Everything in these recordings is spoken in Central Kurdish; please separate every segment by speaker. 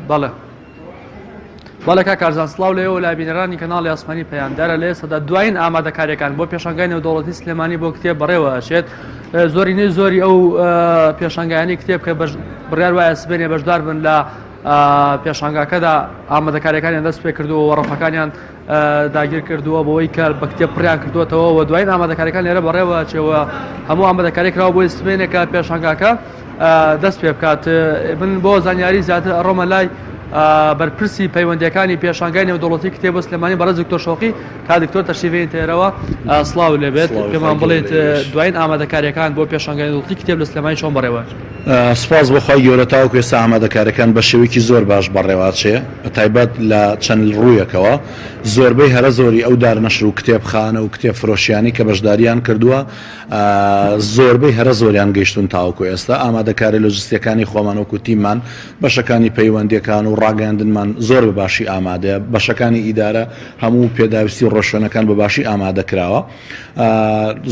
Speaker 1: بەڵێ بەڵێ کا کارزان سلااو لە ئێوە لابینەرانی کەناڵی ئاسمانی پەیاندارە لێ سەدا دوایین ئامادەکاریەکان بۆ پێشنگای نێودوڵەتی سلێمانی بۆ کتێب بەڕێوە ئەشێت زۆری نوێ زۆری ئەو پێشنگانی کتێب کە بڕیار وایە سبێنێ بەشدار بن لە پێشنگاکەدا ئامادەکاریەکانیان دەست پێ کردو وەڕفەکانیان داگیر کردووە بەوەی کە بە کتێب پڕیان کردوێتەوە و دوایین ئامادەکاریەکان لێرە بەڕێوە چێوە هەموو ئامادەکاری کراوە بۆی سبێنێکە پێشانگاکە دەست پێ بکات من بۆ زانیاری زیاتر ئەڕۆمە لای بەرپرسی پەیوەندەکانی پێشانگای نێودوڵەتی کتێب و سلمانی بەڕێز دکتۆر شۆقی کا دکتۆر تەشیبین تێرەوە سلااو لەبێت پێمان بڵێت دوایین ئامادەکاریەکان بۆ پێشانگای دڵتی کتێب لە سلمانی چۆن بەڕێوە سپاس بەخوای
Speaker 2: گەورە تاوکێستا ئامادەکارەکان بە شێوەیەکی زۆر باش بەڕێواچێ بە تایبەت لە چەند ڕوویەکەوە، زۆربەی هەرە زۆری ئەو دار نەشر و کتێبخانە و کتێب فرۆشیانەی کە بەشدارییان کردووە، زۆربەی هەرە زۆریان گەیشتوون تاوەکو ئێستا، ئامادەکارییە لۆجستییەکانی خۆمان وەکو تیممان، بەشەکانی پەیوەندییەکان و ڕاگەیاندنمان زۆر بە باشی ئامادەیە، بەشەکانی ئیدارە هەموو پێداویستی و ڕێوشوێنەکان بە باشی ئامادە کراوە،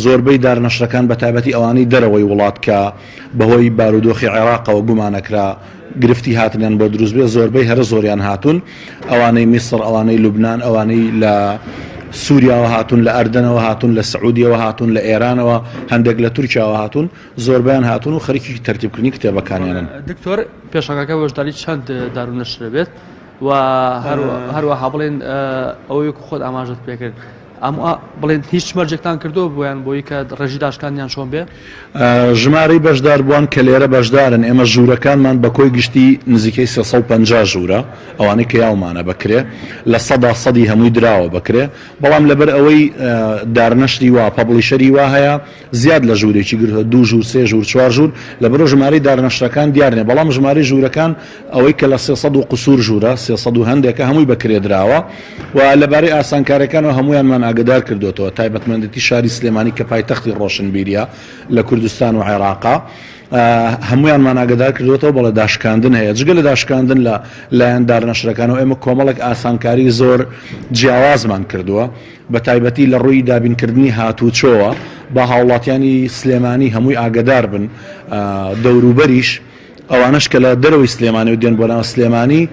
Speaker 2: زۆربەی دار نەشرەکان بە تایبەتی ئەوانەی دەرەوەی وڵات کە بەهۆی بارودۆخی عێراقەوە گومانەکرا، گرفتی هاتنیان بۆ دروست بێ زۆربەی هەرە زۆریان هاتون ئەوانەی میسر ئەوانەی لوبناان ئەوانەی لە سووریاوە هاتون لە ئەردەنەوە هاتون لە سعودیەوە هاتون لە ئێرانەوە هەندێک لە تورکیاوە هاتون زۆربیان هاتون و خەرکی تەرتیبکردنی کتێبەکانیانن دکتۆر
Speaker 1: پێشەکەەکە بەشداری چەند دارونەشرەبێت و هەروەها بڵێن ئەوەی خۆت ئاماژت پێکرد ئەم بڵێن هیچ مەرجێکتان کردو بۆیان بۆی کە ڕێژی داشکاندیان چۆن بێ ژمارەی
Speaker 2: بەشدار بووان کە لێرە بەشدارن ئێمە ژوورەکانمان بە کۆی گشتی نزیکەی 350 ژوورە ئەوانەی کە یاومانە بکرێ لە سەدا سەدی هەمووی دراوە بکرێ بەڵام لەبەر ئەوەی دارنەشری وا پەبڵیشەری وا هەیە زیاد لە ژوورێکی گرتووە، دوو ژوور، سێ ژوور، چوار ژوور، لەبەرئەوە ژمارەی دارنەشتەکان دیار نییە، بەڵام ژمارەی ژوورەکان ئەوەی کە لە سێ سەد و قوسوور ژوورە، سێ سەد و هەندێکە، هەمووی بە کرێ دراوە و لەبارەی ئاسانکارییەکانەوە هەموویانمان ئاگەدار کردووەتەوە، تایبەتمەندێتی شاری سلێمانی کە پایتەختی ڕۆشنبیرییە لە کوردستان و عێراقە، هەموویانمان ئاگەدار کردووەتەوە، بەڵێ داشکاندن هەیە، جگە لە داشکاندن لە لایەن دارنەشتەکانەوە ئێمە کۆمەڵێک ئاسانکاریی زۆر جیاوازمان کردووە. بە تایبەتی لە ڕووی دابینکردنی هاتووچۆوە، با هاوڵاتیانی سلێمانی هەمووی ئاگەدار بن، دەوروبەریش، ئەوانەش کە لە دەرەوەی سلێمانی و دێن بۆ ناو سلێمانی،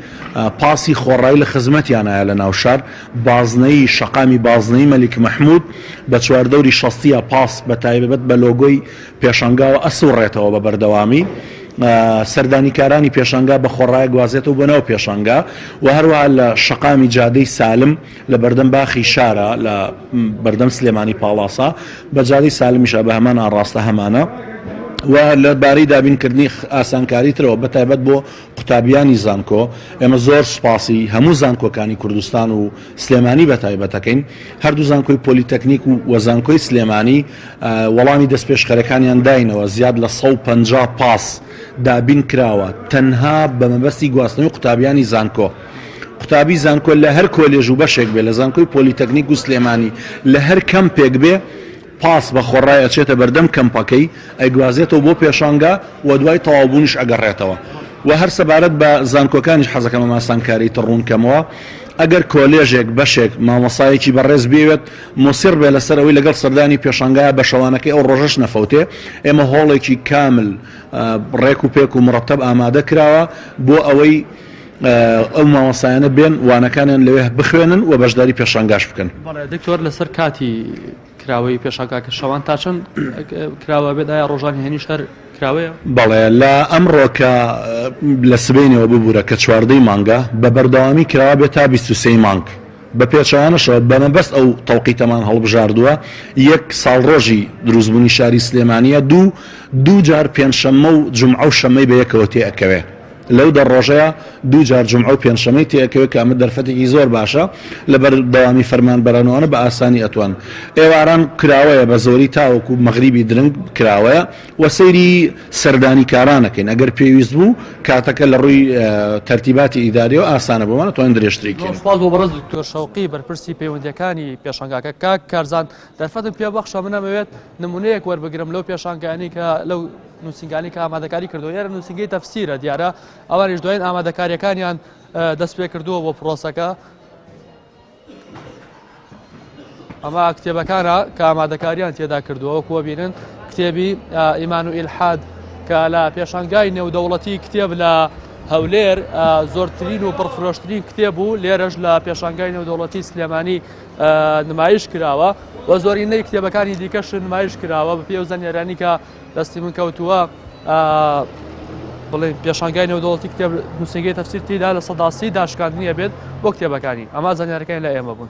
Speaker 2: پاسی خۆڕایی لە خزمەتیانایە لە ناو شار، بازنەیی، شەقامی بازنەیی مەلیک مەحموود، بە چواردەوری شەستییە پاس بە تایبەت بە لۆگۆی پێشانگاوە ئەسووڕێتەوە بە بەردەوامی، سەردانیکارانی پێشانگا بە خۆڕایە گوازێتەوە بۆ ناو پێشانگا و هەروەها لە شەقامی جادەی سالم، لە بەردەم باخی شارا لە بەردەم سلێمانی پاڵاسا بە جادەی سالمیشا بە هەمان ئاڕاستە هەمانە و لە بارەی دابینکردنی ئاسانکاری ترەوە بە تایبەت بۆ قوتابیانی زانکۆ ئێمە زۆر سپاسی هەموو زانکۆکانی کوردستان و سلێمانی بە تایبەتەکەین هەردوو زانکۆی پۆلیتەکنیک و وەزانکۆی سلێمانی وەڵامی دەستپێشخەرەکانیان داینەوە زیاد لە 150 پاس دابین کراوە تەنها بە مەبەستی گواستنەوەی قوتابیانی زانکۆ. قوتابی زانکۆ لە هەر کۆلێژ و بەشێک بێ لە زانکۆی پۆلیتەکنیک و سلێمانی لە هەر کەمپێک بێ پاس بە خۆڕای ئەچێتە بەردەم کەمپەکەی ئەیگوازێتەوە بۆ پێشانگا و دوای تەواوبوونیش ئەگەڕێتەوە و هەر سەبارەت بە زانکۆکانیش حەزەکەم ئەم ئاسانکاریی تر ڕوون کەمەوە ئەگەر کۆلێژێک بەشێک مامۆسایەکی بەڕێز بێوێت مۆسیڕ بێ لەسەر ئەوەی لەگەڵ سەردانی پێشانگایە بە شەوانەکەی ئەو ڕۆژەش نەفەوتێ ئێمە هۆڵێکی کامل ڕێک و پێک و مڕەتەب ئامادە کراوە بۆ ئەوەی ئەو مامۆستایانە بێن وانەکانیان لەوێ بخوێنن و بەشداری پێشانگاش بکەن دکتۆر لەسەر
Speaker 1: کاتی کراوەی پێشاکاکە شەوان تا چەند کراوە بێت ئایا ڕۆژان هێنیش هەر کراوەیە بەڵێ لە
Speaker 2: ئەمڕۆکە لە سبینەوە ببوورە کە چواردەی مانگە بە بەردەوامی کراوە بێت تا 23 مانگ بە پێچوانەشەوە بەمەبەست ئەو تەوقیتەمان هەڵبژاردووە یەک ساڵ ڕۆژی دروستبوونی شاری سلێمانە دوو دوو جار پێنجشەممە و جمعە و شەمەی بە یەکەوە تێ ئەکەوێ لەو دە ڕۆژەیا دوو جار جومعە و پێنجشەمەی تێئەکەوێت کە ئەمە دەرفەتێکی زۆر باشە لە بەر دەوامی فەرمانبەران و ئەوانە بە ئاسانی ئەتوان ئێواران کراوەیە بە زۆری تاوەکو مەغریبی درنگ کراوەیە و سەیری سەردانی کارانەکەین ئەگەر پێویست بوو کاتەکە لە ڕووی تەرتیباتی ئیداریەوە ئاسانە بۆمان توان درێژتری کەین سپاس بۆ بەڕز دکتۆر
Speaker 1: شەوقی بەرپرسی پەیوەندیەکانی پێشنگاکە کاک کارزان دەرفەتم پێ بەخشە منەمەوێت نمونەیەک وەربگرم لەو پێشانگەانی کە لەو نوسینگانیکە ئامادەکاری کردووە ئێرە نوسینگەی تەفسیرە دیارە ئەوانیش دوایین ئامادەکاریەکانیان دەست پێ کردووە بۆ پرۆسەکە ئەمە کتێبەکانە کە ئامادەکاریان تێدا کردووە وەکووە بینن کتێبی ئیمان و ئیلحاد کە لە پێشانگای نێودەوڵەتی کتێب لە هەولێر زۆرترین و پڕفرۆشترین کتێب و لێرەش لە پێشانگای نێودەوڵەتی سلێمانی نمایش کراوە و زۆرینەی کتێبەکانی دیکەش نمایش کراوە بە پێ و زانێرانیکە دەستی من کەوتووە بڵێ پێشانگای نێودەوڵەتی کتێب نووسەگەی تەفسیر تیدا لە سەداسی داشکاندنیە بێت بۆ کتێبەکانی ئەما زانیارەکەی لە ئێمە بوون.